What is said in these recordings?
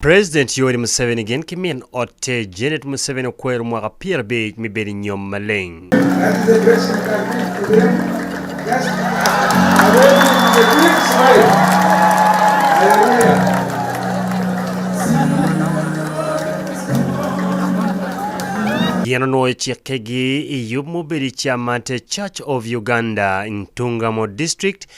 President Yoweri Museveni gin ki min otte Janet Museveni okwero mwaka pyer abic me bedo i nyom maleng. Gin onwoyo cikkegi i yub ma obedo i Kyamate Church of Uganda, Ntungamo District,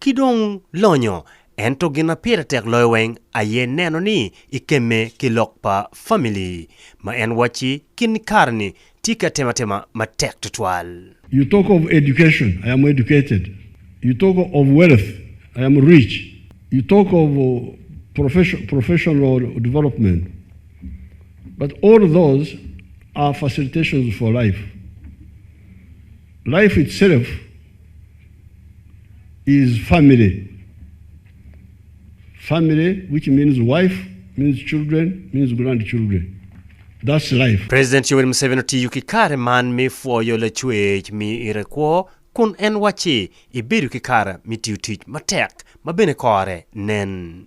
ki dong lonyo, ento gin ma pire tek loyo weng aye neno ni ikemme ki lok pa famili ma en wacci kin kare-ni tye ki atematema matek tutwal. You talk of education, I am educated, you talk of wealth, I am rich, you talk of profession, professional development, but all those are facilitations for life, life itself. is family, family which means wife, means children, means grand children. That's life. President Yoweri Museveni otiyo ki kare man me pwoyo Lacwec miyo ite kwo kun en wacci, Ibedo ki kare me tiyo tic matek ma bene kore nen.